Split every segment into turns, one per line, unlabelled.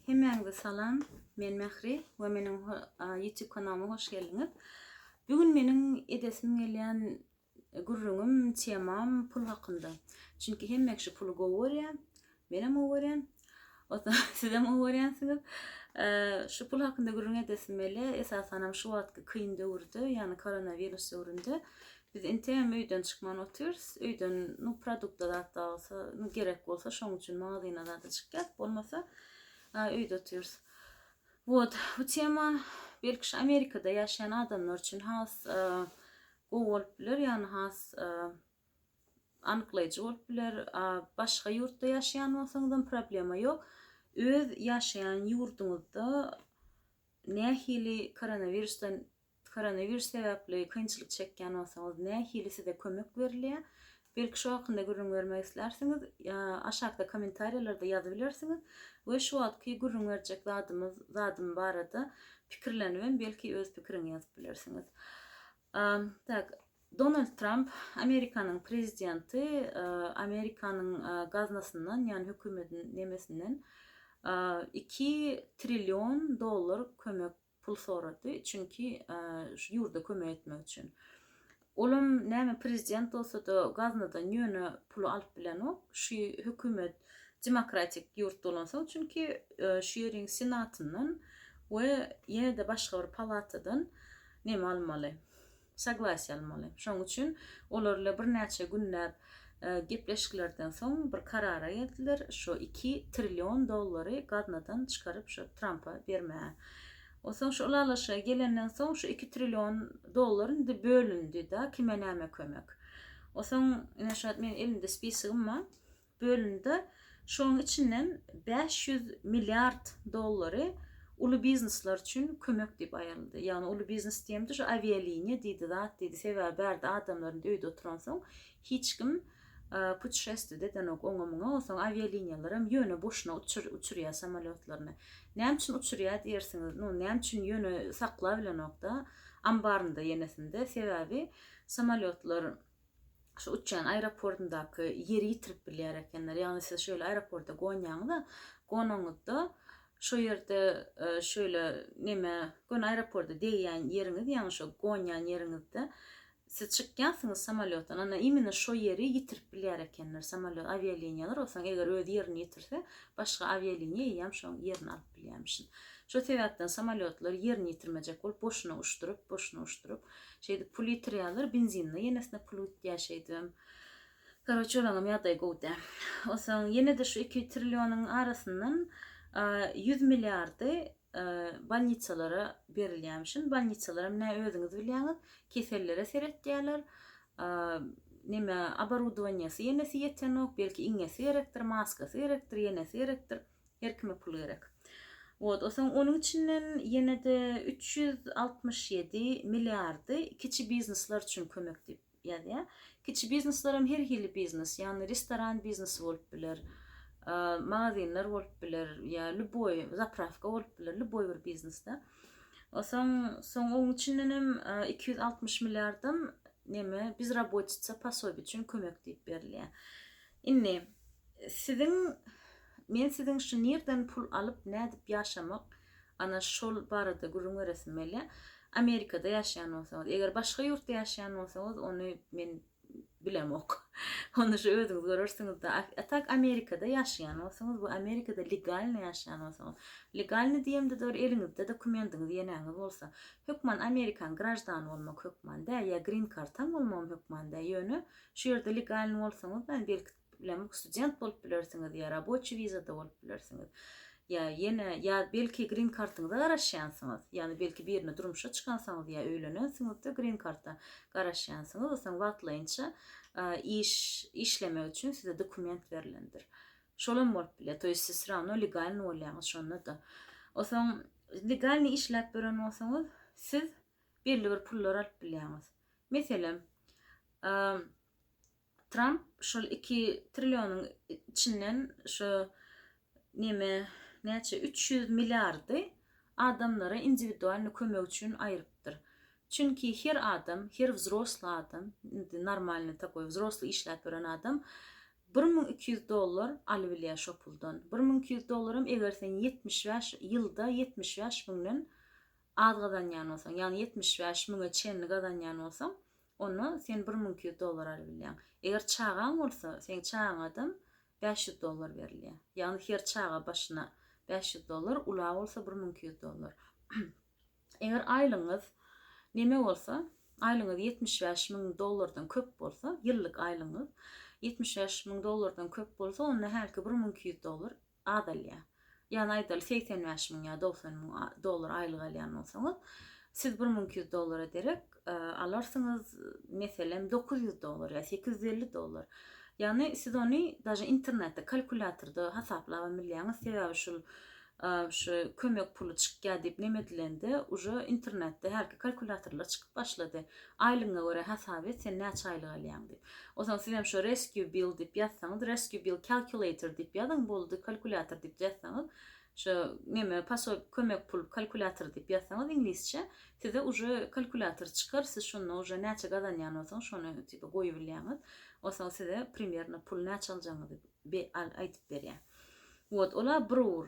Hemmäňize salam, men Mähri we meniň YouTube kanalyma hoş geldiňiz. Bu gün meniň edesim gelýän gürrüňim, temam pul hakynda. Çünki hemme kişi puly gowy görýär, menem gowy görýän, sizem gowy görýänsiňiz. Şu pul hakynda gürrüň edesim gelýär, esasanam şu wagtky kyn döwürde, ýagny koronawirus döwründe Biz inteýem öýden çykman otyrys. Öýden, nu, produkta zat-da bolsa, nu, gerek bolsa, şoň üçin magazyna zada çykýas, bolmasa, a, öýde otyrys. Wot, bu tema, belki, şu Amerikada ýaşaýan adamlar üçin has, a, gowy bolup biler, ýagny has, a, anyklaýjy bolup biler. A, başga ýurtda ýaşaýan bolsaňyzam problema ýok. Öz ýaşaýan ýurduňyzda nähili koronawirusdan Koronavirus sebäpli kynçylyk çekýän bolsaňyz nähili size kömek berilýär? Belki şu hakynda gürrüň bermek islärsiňiz? Aşakda kommentariýalarda ýazybilersiňiz we şu wagtky gürrüň berjek zadymyz zadym barada pikirlenibem belki öz pikiriňi ýazyp bilersiňiz. Tak Donald Trump Amerikanyň prezidenti Amerikanyň gaznasyndan ýani hökümedin nemesinden 2 trillion dollar kömek pul sorady, çünki şu ýurda kömek etmek üçin. Olam näme prezident bolsada gaznadan ýöne puly alyp bilenok, şu hökümet demokratik ýurt bolansoň, çünki şu ýeriň senatyndan we ýene-de başga bir palatadan näme almaly. Soglasiýa almaly. Şonuň üçin olar ile birnäçe günläp gepleşiklerden soň bir karara geldiler, şo iki trillion dollary gaznadan çykaryp şo Trampa bermäge. Onsoň şo ylalaşyga gelenden soň şo iki trillion dollar indi bölündi-de kime näme kömek. Onsoň ine şo men elimde spisogym bar. bölündi. Şonuň içinden bäş ýüz milliard dollary uly biznesler üçin kömek diýip aýryldy. Ýagny uly biznes diýemde şu awialiniýa diýdi zat diýdi. Sebäbi bärde adamlar indi öýde oturansoň hiç kim putişestwiýe-de edenok oňa-muňa. Onsoň awialiniýalaram ýöne boşuna uçurýar samolýotlaryny. Näme üçin uçurýar diýersiňiz. Nu, näme üçin ýöne saklabilenok-da ambarynda ýenesinde. Sebäbi samolýotlar şu uçýan aeroportyndaky ýeri ýitirip bilýär ekenler. Ýagny siz şöyle aeroporta gonýaňyz-da, gonaňyzda şo ýerde e, şöyle neme göni aeroporta degýän ýeriňiz, ýagny şo gonýan ýeriňizde siz çykýansyňyz samolýotdan, ana imенно şo ýeri ýitirip bilýär ekenler samolýot awialiniýalar, olsaň eger öz ýerini ýitirse, başga awialiniýa eýýäm şoň ýerini alyp bilýärmişin. Şo sebäpden samolýotlar ýerini ýitirmejek bolup boşuna uçduryp, boşuna uçduryp, Şeýdip pul ýitirýärler, benzinine ýenesine pul gitýär şeýdibem. Karoçe olaňam ýagdaýy gowy dä. Onsoň ýene-de şu iki trillionuň arasyndan ýüz milliardy bolnitsalara berilýärmişin. Bolnitsalaram nä özüňiz bilýäňiz, kesellere seretýärler. Neme, oborudowaniýasy ýenesi ýetenok, belki iňňesi gerekdir, maskasy gerekdir, ýenesi gerekdir. Her kime pul gerek. Wot o soň onuň içinden ýenede üç ýüz altmyş ýedi milliardy kiçi biznesler üçin kömek diýip ýazýar. Kiçi biznesler hem her hili biznes, ýagny restoran biznesi bolup biler, magazinler bolup biler, ýa lýuboý zaprawka bolup biler, lýuboý bir biznesde. O soň soň oň içinden hem iki ýüz altmyş milliardam neme bizrabotitsa pasobi üçin kömek diýip berilýär. Indi, siziň, men siziň şu nirden pul alyp, nädip ýaşamak, ana, şol barada gürrüň beresim gelýär. Amerikada ýaşaýan bolsaňyz, eger başga ýurtda ýaşaýan bolsaňyz, ony men bilemok. Ony şu özüňiz görersiňiz-de. A tak, Amerikada ýaşaýan bolsaňyz, bu Amerikada legalny ýaşaýan bolsaňyz, legalny diýemde-de bir eliňizde dokumendiňiz, ýeneňiz bolsa, hökman amerikan graždany bolmak hökman däl, ýa grin-kartaň bolmagam hökman däl, ýöne Şu ýerde legalny bolsaňyz, ýani belki bilemok, student bolup bilersiňiz ýa raboçi wizada bolup bilersiňiz. Ýa ýene ýa belki grin kartyňyza garaşýansyňyz. Ýani belki birine durmuşa çykansyňyz ýa öýlenensiňizde grin karta garaşýansyňyz. Osaň wagtlaýynça iş işlemek üçin size dokument berlendir. Şolam bolup bilýär. Toýs siz srawno legalny bolýaňyz şonda da. Osaň legalny işläp ýören bolsaňyz, siz belli bir pullar alyp bilýäňiz. Meselem, Tramp şol iki trillionyň içinden şu neme näçe üç ýüz milliardy adamlara indiwidualny kömek üçin aýrypdyr. Çünki her adam, her wzrosly adam, indi normalny takoý wzrosly işläp ýören adam bir müň iki ýüz dollar alybilýär şo puldan. Bir müň iki ýüz dollaram eger sen ýetmiş bäş ýylda ýetmiş bäş müňden az gazanýan bolsaň, ýagny ýetmiş bäş müňe çenli gazanýan bolsaň, onda sen bir müň iki ýüz dollar alyp bilýäň. Eger çagaň bolsa, seň çagaňadam bäş ýüz dollar berilýär. Ýagny her çaga başyna bäş ýüz dollar, ula bolsa bir müň iki ýüz dollar. Eger aýlygyňyz neme bolsa, aýlygyňyz ýetmiş bäş müň dollardan köp bolsa, ýyllyk aýlygyňyz ýetmiş bäş müň dollardan köp bolsa, onda hälki bir müň iki ýüz dollar azalýar. Ýagny aýdaly segsen bäş müň ýa dogsan müň dollar aýlyk alýan bolsaňyz, siz bir müň iki ýüz dollara derek alarsyňyz, meselem dokuz ýüz dollar ýa sekiz ýüz elli dollar. Ýagny siz ony daže internetde kalkulýatorda hasaplabam bilýäňiz, sebäbi şul şu kömek puly çykýar diýip neme edilende uje internetde hälki kalkulýatorlar çykyp başlady. Aýlygyňa görä hasap et sen näçe aýlyk alýaň diýip. O zaman siz hem şu rescue bill diýip ýazsaňyz, rescue bill calculator diýip ýazyň boldy, kalkulýator diýip ýazsaňyz, şu neme pasob kömek pul kalkulýator diýip ýazsaňyz iňlisçe, size uje kalkulýator çykar, siz şonda uje näçe gazanýan bolsaňyz şony tipa goýubilýäňiz, onsoň size primerno pul näçe aljagyňyzy be al aýdyp berýär. Wot ola bir ur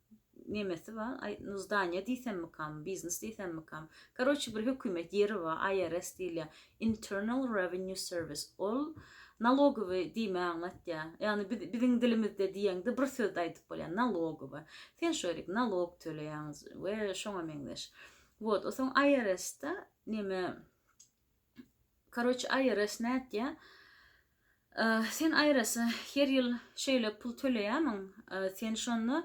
nemesi bar, aý, zdaniýa diýsemmikam, biznes diýsemmikam, karoçi, bir hökümet ýeri bar, IRS diýilýär, Internal Revenue Service, ol nalogowy diýme aňlatýar. Ýagny biz, biziň dilimizde diýeňde bir sözde aýdyp bolýar, nalogowy. Sen şu ýerik nalog töleýäň we şoňa meňzeş. Wot, o soň IRS-de neme, Karoç IRS nätýä? Sen IRS her ýyl şeýle pul töleýämiň? Sen şonda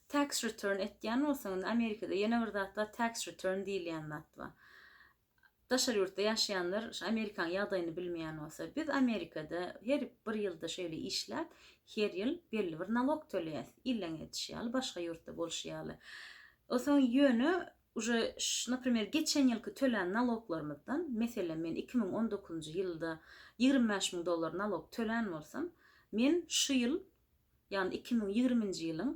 tax return etýän bolsaň, indi Amerikada ýene bir zat bar, tax return diýilýän zat bar. Daşary ýurtda ýaşaýanlar şu Amerikanyň ýagdaýyny bilmeýän bolsa, biz Amerikada her bir ýylda şeýle işläp, her ýyl belli bir nalok töleýäs. Illeň edişi ýaly, başga ýurtda bolşy ýaly. Onsoň ýöne Uje ş naprimer geçen ýylky tölän naloglarymyzdan, meselem men iki müň on dokuzynjy ýylda ýigrimi bäş müň dollar nalog tölän bolsam, men şu ýyl, ýagny iki müň ýigriminji ýylyň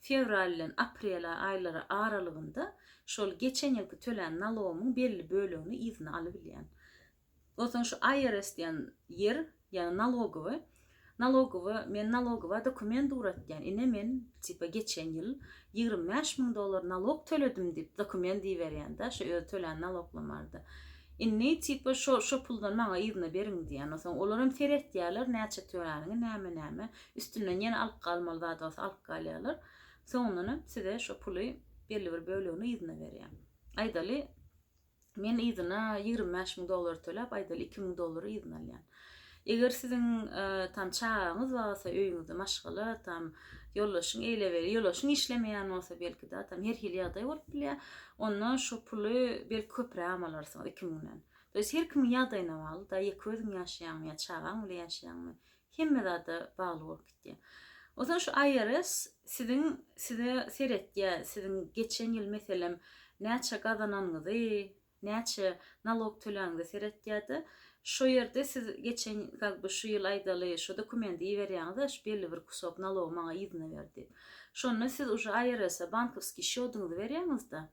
fewral bilen aprel aýlary aralygynda şol geçen ýylky tölän nalogymyň belli bölegini yzyna alybilýän. Soň şu IRS diýen ýer, ýagny nalogowy, nalogowy, men nalogowa dokument ugratýan, ine men tipa geçen ýyl ýigrimi bäş müň dollar nalog töledim diýip dokument iberýän-de, şu özi tölän naloglam bardy. Indi tipa şo şo puldan maňa yzyna beriň diýýän. Soň olar hem seretýärler näçe töläniňi, näme näme, üstünden ýene alyp galmaly zat bolsa alyp galýarlar. Soňundanam size şo puly belli bir bölegini yzyna berýär. Aýdaly, Men yzyna ýigrimi bäş müň dollar töläp, aýdaly, iki müň dollary yzyna alýan. Eger siziň, tam, çagaňyz barsa, öýüňizde maşgala, tam, ýoldaşyň, eýleweli, ýoldaşyň işlemeýän bolsa, belki-de, tam, her hili ýagdaý bolup bilýär, onda şu puly, belki, köprägem alarsyňyz, iki müňden. To ýest, her kimiň ýagdaýyna bagly-da, ýeke özüň ýaşaýaňmy ýa çagaň bilen ýaşaýaňmy, Hemme zada bagly bolup gitýär. Onsoň şu IRS siziň size seretýär, siziň geçen ýyl meselem näçe gazananyňyzy, näçe nalog töläniňizi seretýärdi. Şo ýerde siz geçen kak by şu ýyl aýdaly şu dokumendi iberýäňizde şu belli bir kusok nalogy maňa yzyna ber diýip. Şonda siz uje IRS-e bankowskiý şýodyňyzy berýäňizde.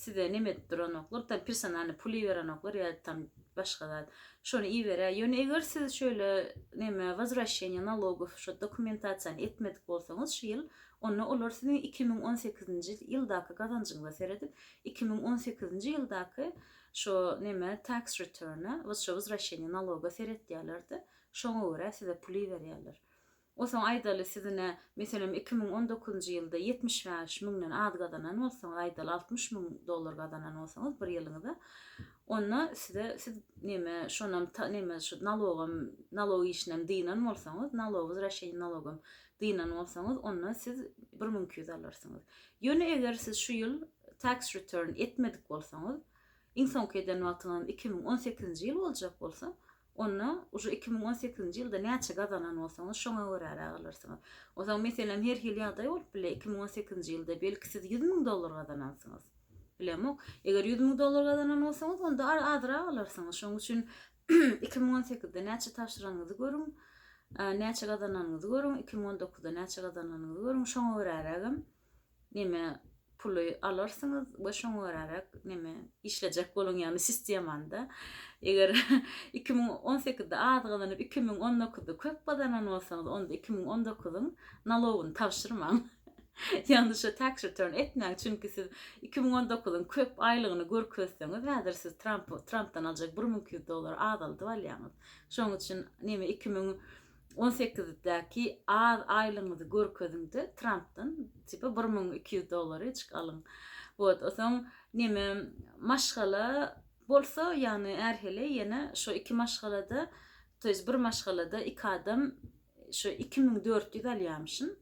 Size neme edip duranoklar, tam personalny pul iberenoklar ýa tam başga zat. Şony iberä. Ýöne eger siz şeýle neme wozwrasheniýe nalogow şu dokumentasiýany etmedik bolsaňyz şu ýyl, onda olar siziň iki müň on sekizinji ýyldaky gazanjyňyza seredip, iki müň on sekizinji ýyldaky şu neme tax return-a, şu wozwrasheniýe naloga seretýärler-de, şoňa görä size pul iberýärler. Onsoň aýdaly siz ine, meselem, iki müň on dokuzynjy ýylda ýetmiş bäş müňden az gazanan bolsaňyz, aýdaly altmyş müň dollar gazanan bolsaňyz bir ýylyňyza, onda size, siz neme, şonam ta, neme, şu nalogam, nalog işinem dynan bolsaňyz, nalog wzrasçeniýa nalogam dynan bolsaňyz, onda siz bir müň iki ýüz alarsyňyz. Ýöne eger siz şu ýyl tax return etmedik bolsaňyz, iň soňky eden wagtyňyz iki müň on sekizinji ýyl boljak bolsa, Onda uje iki müň on sekizinji ýylda näçe gazanan bolsaňyz, şoňa göräräk alarsyňyz. Onsoň, meselem, her hili ýagdaý bolup biler, iki müň on sekizinji ýylda, belki, siz ýüz müň dollar gazanansyňyz. Bilemok. Eger ýüz müň dollar gazanan bolsaňyz, onda azrak alarsyňyz. Şonuň üçin iki müň on sekizde näçe tabşyranyňyzy görüň, näçe gazananyňyzy görüň, iki müň on dokuzda näçe gazananyňyzy görüň, şoňa görärägem neme puly alarsyňyz we şoňa göräräk neme işlejek boluň ýagny sistemanda eger iki müň on sekizde az gazanyp iki müň on dokuzda köp gazanan bolsaňyz onda iki müň on dokuzyň nalogyny tabşyrmaň ýagny şu tax return etmäň çünki siz iki müň on dokuzyň köp aýlygyny görkezseňiz häzir siz tramp trampdan aljak bir müň iki ýüz dollar azaldyp alýaňyz şoň üçin neme iki müň On sekizdäki az aýlygyňyzy görkeziňde trampdan tipa bir müň iki ýüz dollaryjyk alyň wot osoň neme maşgala bolsa ýagny ärhili ýene şo iki maşgalada to ýest bir maşgalada iki adam şo iki müň dört ýüz alýamyşyn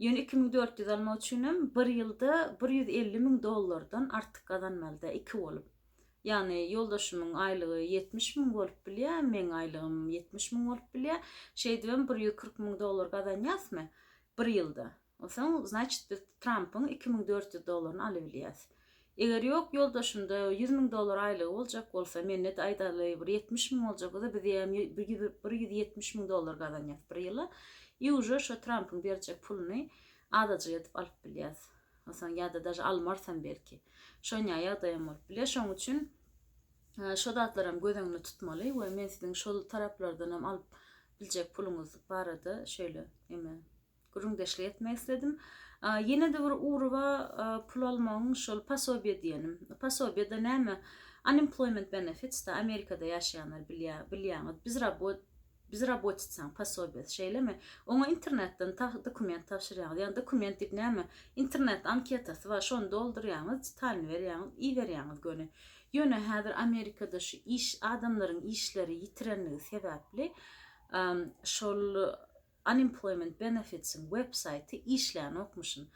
ýöne iki müň dört ýüz almak üçinem bir ýylda bir ýüz elli müň dollardan artyk gazanmalyda iki bolup Ýagny ýoldaşymyň aýlygy ýetmiş müň bolup bilýär, meň aýlygym ýetmiş müň bolup bilýär. Şeýdibem bir ýüz kyrk müň dollar gazanýasmy bir ýylda? Onsoň, znaçit, biz Trampyň iki müň dört ýüz dollaryny alybilýäs. Eger ýok, ýoldaşymda ýüz müň dollar aýlygy boljak bolsa, mende-de, aýdaly, bir ýetmiş müň boljak bolsa, biz diýýän bir ýüz ýetmiş müň dollar gazanýas bir ýyla. I uje şo Trampyň berjek puluny azajyk edip alyp bilýäs. Onsoň ýa-da daže almarsam belki. Şonýa ýagdaýam bolup biler. Şoň üçin şo zatlaram göz öňünde tutmaly we men siziň şol taraplardanam alyp biljek puluňyz barada şeýle eme gürrüňdeşlik etmek isledim. Ýene-de bir ugruba pul almagyň şol pasobiýe diýenim. Pasobiýe-de näme? Unemployment benefits-da Amerikada ýaşaýanlar bilýär, bilýäňiz. Biz rabot Bezrabotica posobiýasy, şeýlemi? Oňa internetden dokument tabşyrýaňyz. Ýa dokument diýip näme? Internet anketasy bar, şony doldurýaňyz, detalyny berýäňiz, iberýäňiz göni. Ýöne häzir Amerikada şu iş, adamlaryň işleri ýitirenligi sebäpli, şol Unemployment Benefits-iň websaýty işlänokmyşyn.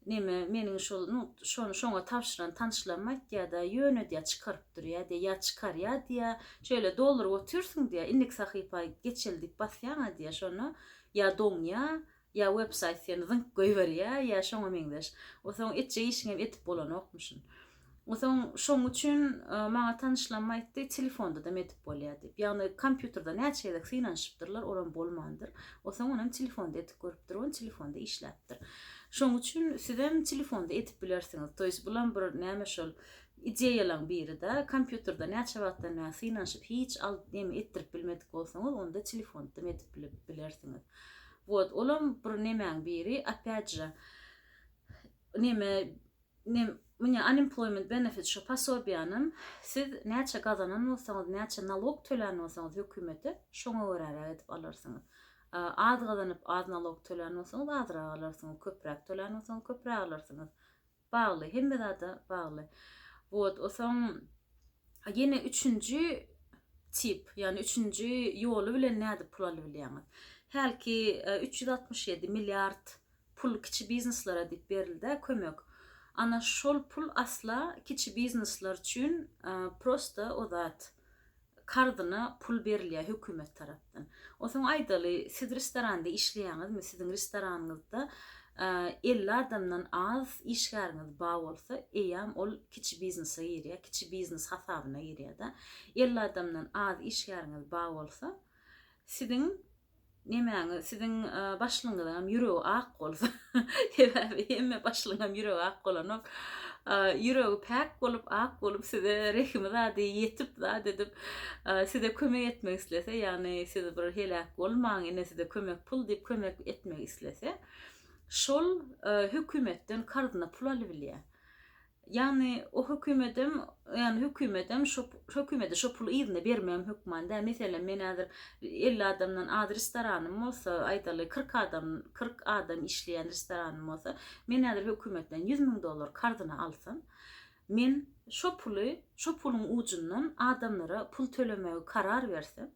Neme, meniň şol, nu, şony şoňa tabşyran tanyşlarym aýtýar-da, ýöne, diýýär, çykaryp durýar, diýýär, ýa çykarýar, diýýär, şeýle dolduryp otyrsyň, diýýär, indiki sahypa geçeli diýip basýaň-a, diýýär, şonda ýa doňýar, ýa websaýt seni zyňyp goýberýär, ýa şoňa meňzeş. Onsoň etjek işiňem edip bolanokmyşyn. Soň şoň üçin maňa tanyşlanma aýtdy, telefonda-da medip bolýar diýip. Ýagny kompýuterde näçe gezek synanyşypdyrlar, olam bolmandyr. Osoň onem telefonda edip görüpdir, on telefonda işläpdir. Şoň üçin sizem telefonda edip bilersiňiz. Toýs bulam bir näme şol ideýalaň biri-de. Kompýuterde näçe wagtdan bäri synanyşyp hiç al neme etdirip bilmedik bolsaňyz, onda telefonda medip bilip bilersiňiz. Wot, olam bir nemäň biri, opýat-je, neme Ine, mine unemployment benefit şu posobiýanam siz näçe gazanan bolsaňyz, näçe nalog tölän bolsaňyz hökümete, şoňa göräräk edip alarsyňyz. Az gazanyp az nalog tölän bolsaňyz azrak alarsyňyz, köpräk tölän bolsaňyz köpräk alarsyňyz. Bagly, hemme zada bagly. Wot, osaň ýene üçünji tip, ýagny üçünji ýoly bilen nädip pul alybilýäňiz? Hälki üç ýüz altmyş ýedi milliard pul kiçi bizneslara diýip berilda kömek ana şol pul asla kiçi bizneslar üçin prosta o zat karzyna pul berilýä hökümet tarapdan osoň aýdaly siz restoranda işleýäňizmi siziň restoranyňyzda elli adamdan az işgäriňiz ba bolsa eýýam ol kiçi biznese girýä kiçi biznes hasabyna girýäda elli adamdan az işgäriňiz ba bolsa siziň nemäňi siziň başlygyňyzam ýüregi ak bolsa sebäbi hemme başlygyňam ýüregi ak bolanok ýüregi päk bolup ak bolup size rehimi zady ýetip zat edip size kömek etmek islese ýagny siz bir heläk bolmaň ine size kömek pul diýip kömek etmek islese şol hökümetden karzyna pul alybilýär Ýagny o hökümedem ýagny hökümedem şo hökümede şo puly yzyna bermegem hökman däl. Meselem men häzir elli adamdan az restoranym bolsa, aýdaly kyrk adam kyrk adam işleýän restoranym bolsa, men häzir hökümetden ýüz müň dollar karzyna alsam, men şo puly şo puluň ujundan adamlara pul tölemegi karar bersem,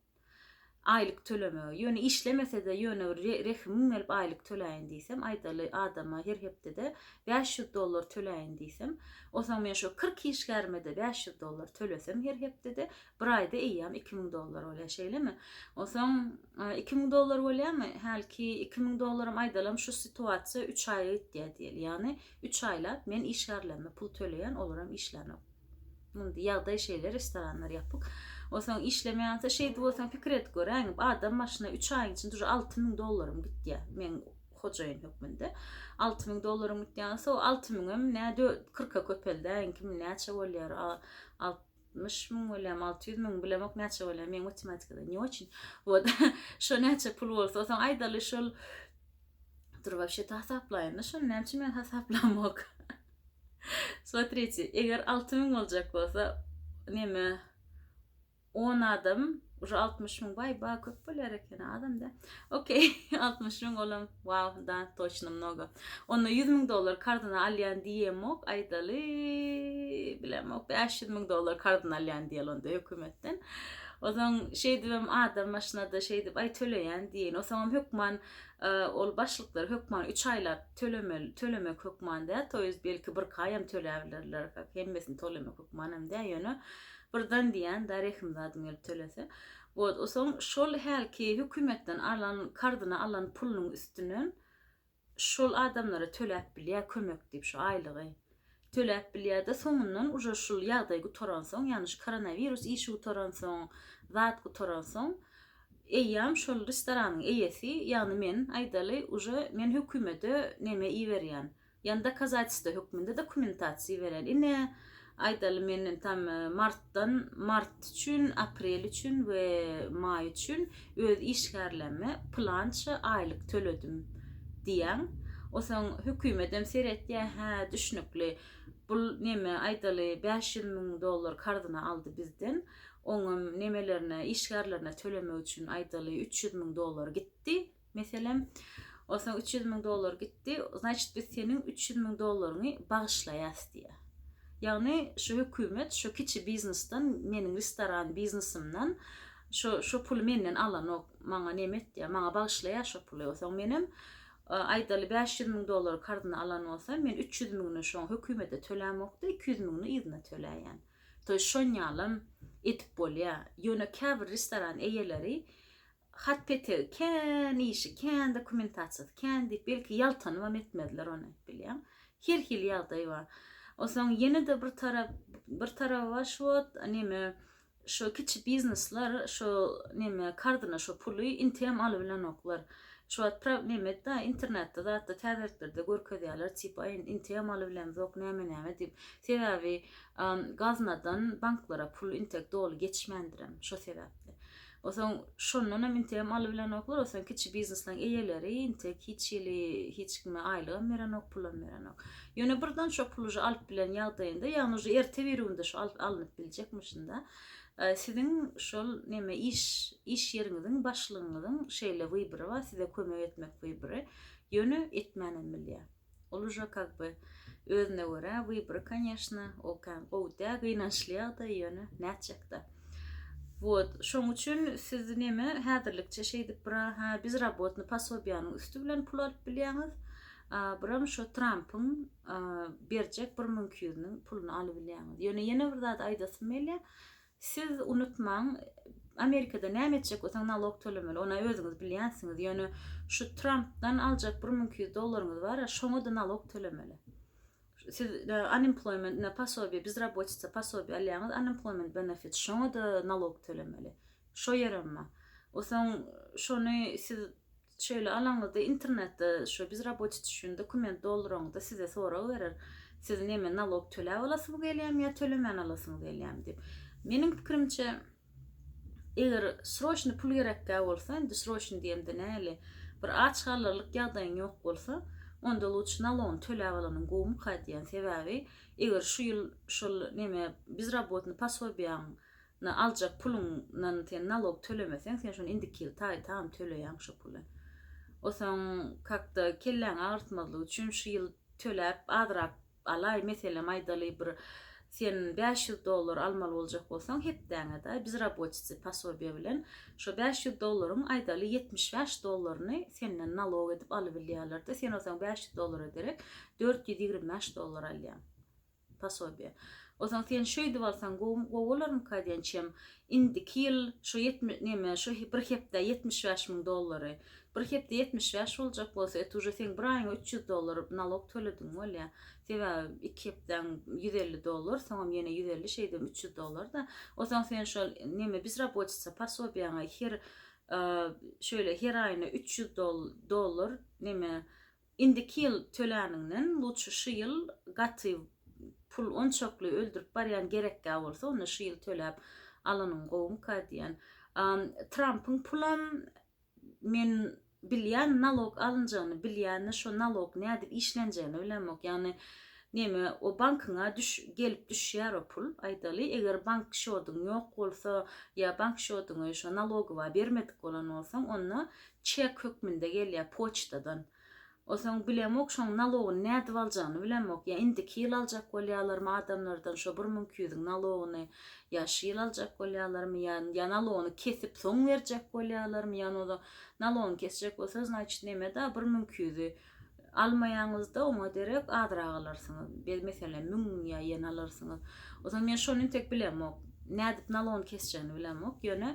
aýlyk tölemegi. Ýöne işlemese-de ýöne bir rehimiň gelip aýlyk töläýin diýsem, aýdaly adama her hepdede bäş ýüz dollar töläýin diýsem, onsoň men şo kyrk işgärime-de bäş ýüz dollar tölesem her hepdede, bir aýda eýýäm iki müň dollar bolýar, şeýlemi? Onsoň iki müň dollar bolýarmy? Hälki iki müň dollaram aýdalam şu situasiýa üç aýa gidýär diýeli. Ýagny üç aýlap men işgärlerime pul töleýän, olaram işlänok. Indi ýagdaý şeýle, restoranlar ýapyk. Onsoň işlemeýänsoň şeýdip onsoň pikir edip göräýiň, adam başyna üç aýyň içinde uje alty müň dollarym gitýä, men hojaýyn hökmünde. Alty müň dollarym gitýä, onsoň o alty müňem nä dö-, kyrka köpeldäýiň, kim näçe bolýar, a-a-a, altmyş müň bolýamy, alty ýüz müňmi, bilemok näçe bolýar, meň matematikada ne oçin. Wot, şo näçe pul bolsa, onsoň aýdaly şol, dur, wapşe-de hasaplaýyn-da şony, näme üçin men hasaplamok. Смотrite, eger alty müň boljak bolsa, neme, on adam, uje altmyş müň, waý, ba, köp bolýar ekeni, azam-da. Okey, altmyş müň olam, waw, da, toçno, mnogo. Onda ýüz müň dollar karzyna alýan diýemok, aýdaly, bilemok, bäş ýüz müň dollar karzyna alýan diýeli onda hökümetden. Ozan şeýdibem adam maşynada şeýdip, aý, töleýän diýeýin. Osaňam hökman Ol başlyklary hökman üç aýlap tölemeli, tölemek hökman däl, to ýest belki bir kaýam töläbilerler, hemmesini tolemek hökmanam däl, ýöne birden diýýän da rehimzadym gelip tölese. Wot, o soň şol hälki hökümetden alan, karzyna alan pulunyň üstünden şol adamlara töläp bilýär kömek diýip şu aýlygy. töläp bilýärdi soňundan uje şul ýagdaý gutaransoň ýagny şu koronawirus işi gutaransoň zat gutaransoň eýýam şol restoranyň eýesi ýagny men aýdaly uje men hökümede neme iberýän ýagny dokazatelstwo hökmünde dokumentasiýa berýän ine aýdaly men tam martdan mart üçin aprel üçin we maý üçin öz işgärlerime pylança aýlyk töledim diýýäň. Osaň hökümetem seretýä, hä, düşnükli, bul neme, aýdaly, bäş ýüz müň dollar karzyna aldy bizden, oňam nemelerine, işgärlerine tölemek üçin, aýdaly, üç ýüz müň dollar gitdi, meselem. Osaň üç ýüz müň dollar gitdi, znaçit, biz seniň üç ýüz müň dollaryňy bagyşlaýas diýýä. Ýagny, şu hökümet şu kiçi biznesden, meniň restoran biznesimden, Şo şo puly menden alanok maňa neme etýä maňa bagyşlaýa şo puly osaň menem aýdaly bäş ýüz müň dolary karzyna alan bolsam men üç ýüz müňüni şoň hökümete tölämokda iki ýüz müňüni yzyna töläýen toý şonýalam edip bolýa ýöne käbir restoran eýeleri hat petegi kän işi kän dokumentasiýasy kän diýip belki ýaltanybam etmezler ony bilýäň her hili ýagdaý bar osaň ýene de bir tarap bir taraby bar şu wagt neme Şo kiçi biznesler şo neme kardyna şo puly inteem alybilenoklar. Şu wagt praw nemedda internetde zatda täzeliklerde görkezýäler tipa in inteem alybilemzok näme näme diýip. Sebäbi gaznadan banklara pul intek doly geçmändirem şo sebäpli. Osaň şondanam inteem alybilenoklar osaň kiçi biznesleň eýeleri intek hiç hili hiç kime aýlygam berenok pulam berenok. Ýöne birden şo pul uje alyp bilen ýagdaýynda ýagny uje erte birigünde şo alyp alynyp biljekmişinda siziň şol neme iş iş ýeriňiziň başlygyňyzyň şeýle wybory bar size kömek etmek wybory ýöne etmänem bilýär ol uje kak by özüne görä wybory konýeşna ol kän gowy däl gynançly ýagdaý ýöne nätjekda wot şoň üçin siz neme häzirlikçe şeýdip bira hä biz rabotny pasobiýanyň üsti bilen pul alyp bilýäňiz Buram şo Trampyň berjek bir müňki ýüzüniň puluny alybilýäňiz. Ýöne ýene bir zat aýdasym gelýär. Siz unutmaň, Amerikada näme etjek bolsaň nalog tölemeli. Ony özüňiz bilýänsiňiz. Ýöne şu Trampdan aljak bir müňki ýüz dollaryňyz bar-a, şoňa-da nalog tölemeli. Siz unemployment ne posobiýe, bizrabotitsa posobiýe alýaňyz, unemployment benefits, şoňa-da nalog tölemeli. Şo ýerem bar. Osaň şony siz Şeýle alaňyzda internetde şu biz raboçi üçin dokument dolduraňyzda size sorag berer. Siz neme nalog töläp alasyňyz gelýämi ýa tölemän alasyňyz gelýämi diýip. Meniň pikirimçe eger sroçny pul gerekkä bolsa indi sroçny diýemde näli bir aç galarlyk ýagdaýyň ýok bolsa onda luçy nalogyny töläp alanyň gowumyka diýýän sebäbi eger şu ýyl şol neme biz rabotny pasobiýaň na aljak puluň nan sen nalog tölemeseň sen şony indiki ýyl taý tam töleýäň şo puly osaň kakda kelläňi agyrtmazlyk üçin şu ýyl töläp azrak alaý meselem aýdaly bir sen bäş ýüz dollar almaly boljak bolsaň hepdäňe daý biz raboçisi pasobiýa bilen şo bäş ýüz dollaryň aýdaly ýetmiş bäş dollaryny senden nalog edip alybilýärlerde sen osaň bäş ýüz dollara derek dört ýüz ýigrimi bäş dollar alýaň. Posobiýe. Onsoň sen şeýdip alsaň gowy bolarmyka diýen çem. Indiki ýyl şo ýetmi, neme, şo bir hepdä ýetmiş bäş müň dollary. Bir hepde ýetmiş bäş boljak bolsa, et uje seň bir aýyňa üç ýüz dollar nalog tölediň bolýa. Sebäbi iki hepdäň ýüz elli dollar, soňam ýene ýüz elli şeýdem üç ýüz dollar-da. Onsoň sen şol neme bizrabotica posobiýaňa her şeýle her aýyna üç ýüz dollar neme Indiki ýyl töläniňden luçy şu ýyl gaty pul onçakly öldürip barýan gerekgä bolsa onda şu ýyl töläp alanyň gowumyka diýýän. Trampyň pulam men bilýän nalog alynjagyny bilýänini şo nalog nädip işlenjegini bilemok ýagny neme o bankyňa düş gelip düşýär o pul aýdaly eger bank şodyň ýok bolsa ýa bank şodyňy şo nalogowa bermedik bolan bolsaň onda çek hökmünde gelýär poçtadan. Onsoň bilemok şoň nalogyny nädip aljagyny bilemok ýa indiki ýyl aljak bolýalarmy adamlardan şo bir müň iki ýüzüň nalogyny ýa şu ýyl aljak bolýalarmy ýa ýa nalogyny kesip soň berjek bolýalarmy ýa nalogyny kesjek bolsa znaçit neme da bir müň iki ýüzi Almaýaňyzda oňa derek azrak alarsyňyz. Be meselem müň ýa ýen alarsyňyz. O zaman men şony intek bilemok. Nädip nalogyny kesjegini bilemok. Ýöne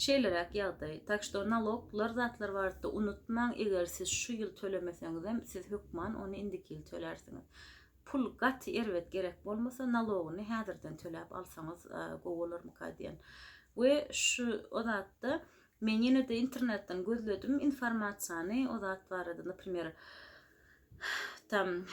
şeýleräk ýagdaý. Tak şto nalok lar zatlar barada unutmaň eger siz şu ýyl tölemeseňizem siz hökman ony indiki ýyl tölersiňiz. Pul gaty erbet gerek bolmasa nalogyny häzirden töläp alsaňyz gowy bolarmyka diýen. We şu o zatda Men ýene-de internetden gözledim informasiýany, o zat barada, naprimer, tam,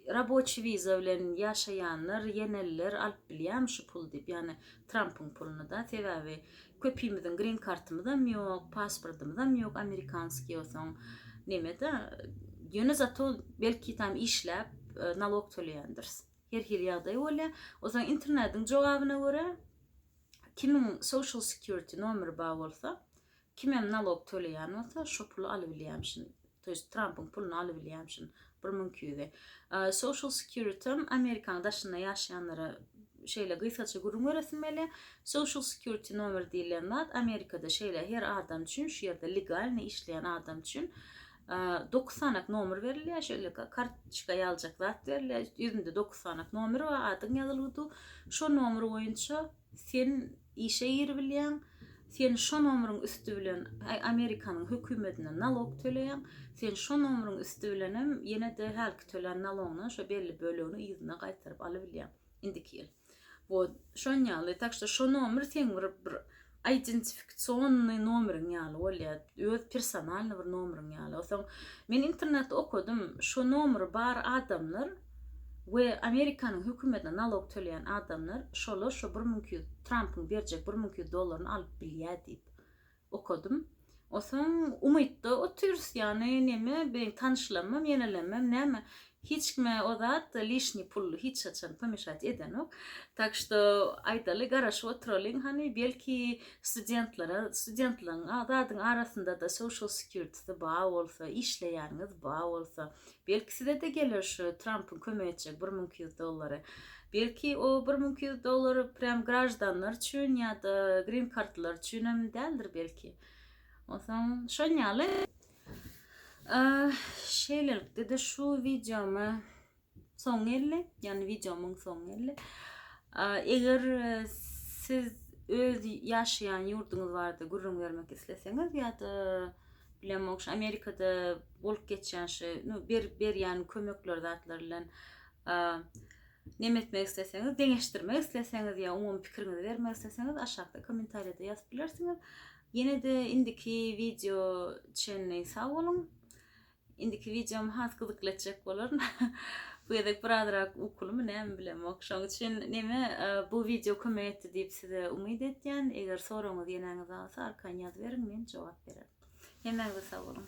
raboçi wiza bilen ýaşaýanlar, ýeneller alyp bilýärmi şu pul diýip, ýagny Trampyň puluny-da, sebäbi köpimiziň grin kartymyzam ýok, pasportymyzam ýok, amerikanskiý olsaň, neme-de, ýöne zato belki tam işläp, nalog töleýändiris. Her hili ýagdaý bolýar. Onsoň internetiň jogabyna görä, Kimiň social security nomeri bar bolsa, kimem nalog töleýän bolsa, şo puly alybilýämişin. To ýest Trampyň puluny alybilýämişin bir müň iki ýüze. Social securityň Amerikanyň daşynda ýaşaýanlara şeýle gysgaça gürrüň beresimeli. Social security nomeri diýlen zat Amerikada şeýle her adam üçin, şu ýerde legalnyý işleýän adam üçin Dokuz sanak nomer berilýär, şeýle kartoçka ýaljak zat berilýär. Ýüzünde dokuz sanak nomer bar, adyň ýazylyp dur. Şo nomer boýunça sen işe giribilýäň. Sen şo nomeriň üsti bilen Amerikanyň hökümetine nalog töleýäň. Sen şo nomeriň üsti bilen hem ýene-de hälki tölän nalogyňdan şo belli bölegini ýüzüne gaýtaryp alybilýäň. Indiki ýyl. Wot şon ýaly tak şto şo nomer seň bir bir identifikasyonnyý nomeriň ýaly bolýa öz personalnyý bir nomeriň ýaly osaň men internetde okadym şo nomeri bar adamlar we amerikanyň hökümetine nalog töleýän adamlar şolar şo bir müň iki ýüz trampyň berjek bir müň iki ýüz dollaryny alyp bilýä diýip okadym. Osaň umytda otyrys ýany neme beýin tanyşlamam ýenelemem näme hiç kime o zat lişni pully hiç haçan pomeshat edenok tak şto aýdaly garaşyp otyralyň hany belki studentlara studentlaň zadyň arasyndada social security ba bolsa işleýäniňiz ba bolsa Belki size-de geler şu Trampyň kömek etjek bir müň iki ýüz dollary. Belki o bir müň iki ýüz dollar prýam graždanlar üçin ýa-da grin kartlylar üçinem däldir belki. Onsoň şon ýaly. Şeýlelikde-de şu wideoma soň geldi. Ýani wideomyň soňy geldi. Eger siz öz ýaşaýan ýurduňyz barada gürrüň bermek isleseňiz ýa-da bilen mogş amerikada bolup geçýän şu nu berip berýän kömekler zatlar bilen neme etmek isleseňiz deňeşdirmek isleseňiz ýa umumy pikiriňizi bermek isleseňiz aşakda kommentariýada ýazyp bilersiňiz ýene-de indiki wideo çenli sag boluň Indiki wideom has gyzykly etjek bolaryn. Bu gezek birazrak ukulymy näme bilemok. Şoň üçin neme bu wideo kömek etdi diýip size umyt etýän. Eger soragyňyz ýenäňizde galsa arkaýyn ýazyberiň men jogap bererin. Hemmäňize sag boluň.